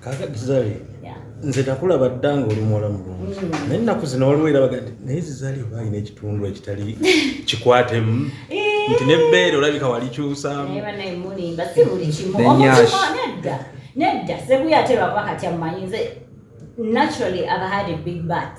kakati zali nze nakulaba dda nga oli muwala mulungi mm. naye ennaku zino waliwo era baga naye zizali oba alina ekitundu ekitali kikwatemu eh. nti nebbeere olabika walikyusaamu nedda sebuya ate lwakuba kati amumanyi nze naturally i've had a big bat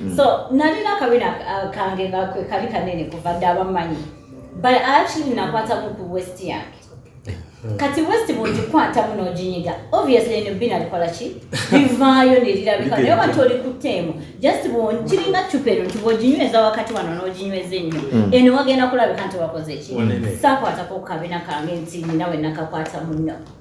mm. so nalina akabina uh, kange nga kwe kali kanene kuva dda abamanyi but actually nakwatamu ku west yange hmm. kati west bwogikwatamu n'oginyiga obviously eno bbi nalikola ki bivaayo nerirabika naye oba toli kutteemu just kiringa cupa eno nti bwoginyweza wakati wano n'oginyweza ennyo hmm. eno wagenda kulabika nti wakoze ki sakwatako kukabina kange nti ninawe nakakwatamu nno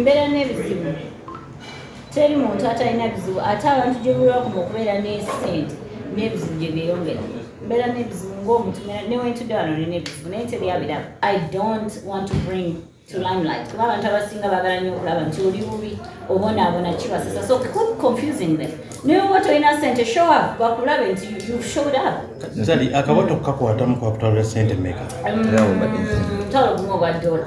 mbeera n'ebizibu teri muntu atalina bizibu ate abantu gyebulwakumu okubeera n'esente n'ebizibu gye byeyongera mbeera n'ebizibu ng'omuntu newentudde wano nina ebizibu naye tebyabiraba i don't want to bring to limelight kuba abantu abasinga bagala nyo okulaba nti oli bubi obonaabona kibasesa so quit confusing them naye oba tolina sente show up bakulabe nti you showed up akabota kukakwatamu kwakutwalira sente meka mm, mutwalo gumu ogwa dola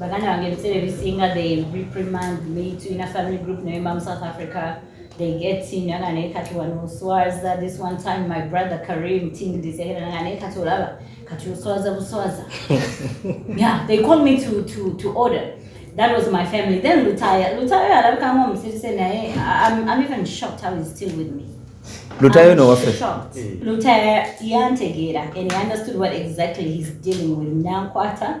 baganda bange ebiseera ebisinga they reprimand me tulina family group naye mbamu south africa they get in nanga naye kati wano oswaza this one time my brother karim tingdisehera nanga naye kati olaba kati oswaza buswaza yeah they call me to, to, to order that was my family then lutayo lutayo alabikamu omusiruse naye I'm, i'm even shocked how he's still with me lutayo no wafe lutayo yantegeera and he understood what exactly he's dealing with nankwata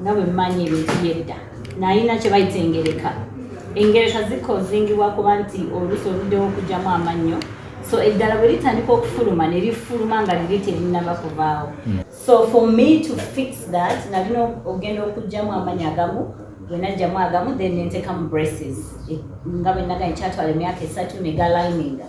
nga bwe mmanyi ebintu by'edda nalina kye bayita engereka engereka zikozingibwa kuba nti oluusi oluddewo okugyamu amannyo so eddala bwe litandika okufuluma ne lifuluma nga liri terinaba kuvaawo hmm. so for me to fix that nalina okugenda okugyamu amanyi agamu bwenajjamu agamu then nentekamu braces eh, nga bwenaganye kyatwala emyaka esatu negalininga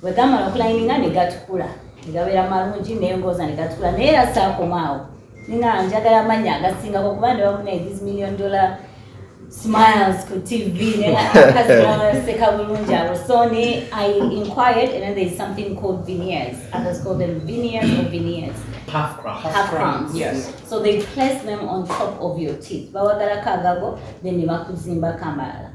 bwe gamala okulayininga ne gatukula ne gabeera malungi nengoza ne gatukula naye era saakomaawo nina njagala amanya agasingako kuba ndi bamuna these million dollar smiles ku tv nenakaseka bulungi abo so ne i inquired and then there is something called viniers others call them viniers or viniers half crowns. Half, half crowns. crowns. Yes. So they place them on top of your teeth. Bawagala kagago, then they bakuzimba kamala.